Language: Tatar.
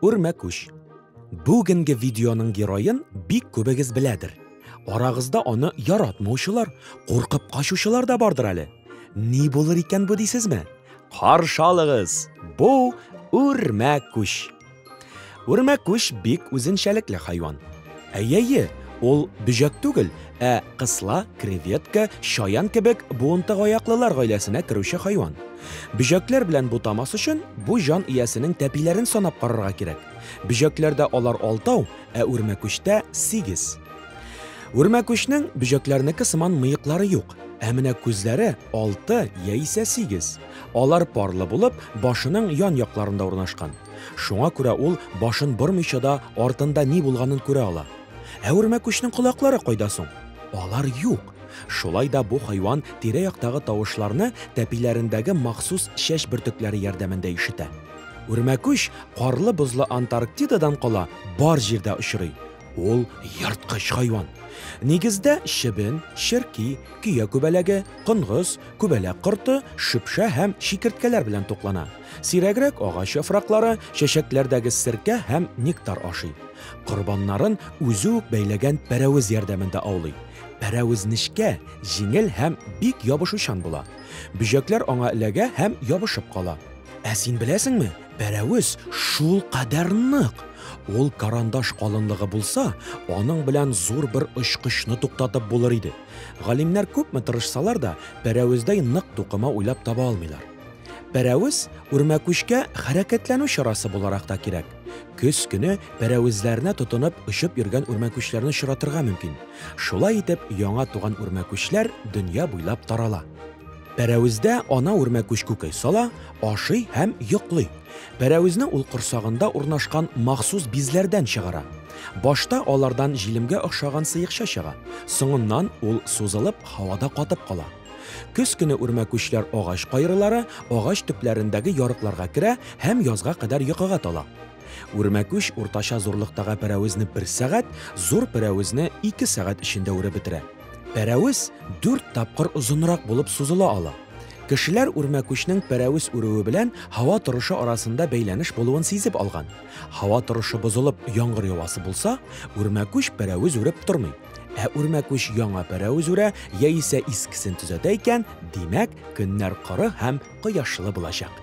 Үрмә күш. Бүгенге видеоның героен бик күбегез беләдер. Арагызда аны яратмаучылар, куркып качучылар да бардыр әле. Ни булыр икән бу дисезме? Каршалыгыз. Бу үрмә күш. Үрмәкүш бик үзенчәлекле хайван. Әйе, ул бөҗәк түгел, ә кысла, креветка, чаян кебек буынтык аяклылар гаиләсенә керүче хайван. Бөҗәкләр белән бутамас өчен бу җан иясенең тәпиләрен санап карарга кирәк. Бөҗәкләрдә алар алтау, ә үрмәкүчтә сигез. Үрмәкүчнең бөҗәкләрнеке сыман мыеклары юк, ә менә күзләре алты яисә сигез. Алар парлы булып, башының ян якларында урнашкан. Шуңа күрә ул башын бормыйча да артында ни булганын күрә ала. Ә үрмәкүчнең колаклары кайда соң? Алар юк. Шулай да бу хайван тирә-яктагы тавышларны тәпиләрендәге махсус чәч бөртекләре ярдәмендә ишетә. Үрмәкүч карлы-бозлы Антарктидадан кала бар җирдә очрый. Ул ерткыч хайван. Нигездә чебен, черки, көя күбәләге, конгыз, күбәләк корты, шөпшә һәм чикерткәләр белән туклана. Сирәгрәк агач яфраклары, чәчәкләрдәге серкә һәм нектар ашый. Корбаннарын үзе үк бәйләгән пәрәвез ярдәмендә аулый. Пәрәвез нечкә, җиңел һәм бик ябышучан була. Бөҗәкләр аңа эләгә һәм ябышып кала. Ә син беләсеңме, пәрәвез шул кадәр нык! Ул карандаш калынлыгы булса, аның белән зур бер очкычны туктатып булыр иде. Галимнәр күпме тырышсалар да, пәрәвездәй нык тукыма уйлап таба алмыйлар. Пәрәвез үрмәкүчкә хәрәкәтләнү чарасы буларак та кирәк. Көз көне пәрәвезләренә тотынып очып йөргән үрмәкүчләрне очратырга мөмкин. Шулай итеп, яңа туган үрмәкүчләр дөнья буйлап тарала. Пәрәвездә ана үрмәкүч күкәй сала, ашый һәм йоклый. Пәрәвезне ул корсагында урнашкан махсус бизләрдән чыгара. Башта алардан җилемгә охшаган сыекча чыга. Соңыннан ул сузылып, һавада катып кала. Көз көне үрмәкүчләр агач кайрылары, агач төпләрендәге ярыкларга керә һәм язга кадәр йокыга тала. Үрмәкүч уртача зурлыктагы пәрәвезне бер сәгать, зур пәрәвезне ике сәгать эчендә үреп бетерә. Пәрәвез дүрт тапкыр озынрак булып сузыла ала. Кешеләр үрмәкүчнең пәрәвез үрүе белән һава торышы арасында бәйләнеш булуын сизеп алган. Һава торышы бозылып, яңгыр явасы булса, үрмәкүч пәрәвез үреп тормый. Ә үрмәкүч яңа пәрәвез үрә яисә искесен төзәтә икән, димәк, көннәр коры һәм кояшлы булачак.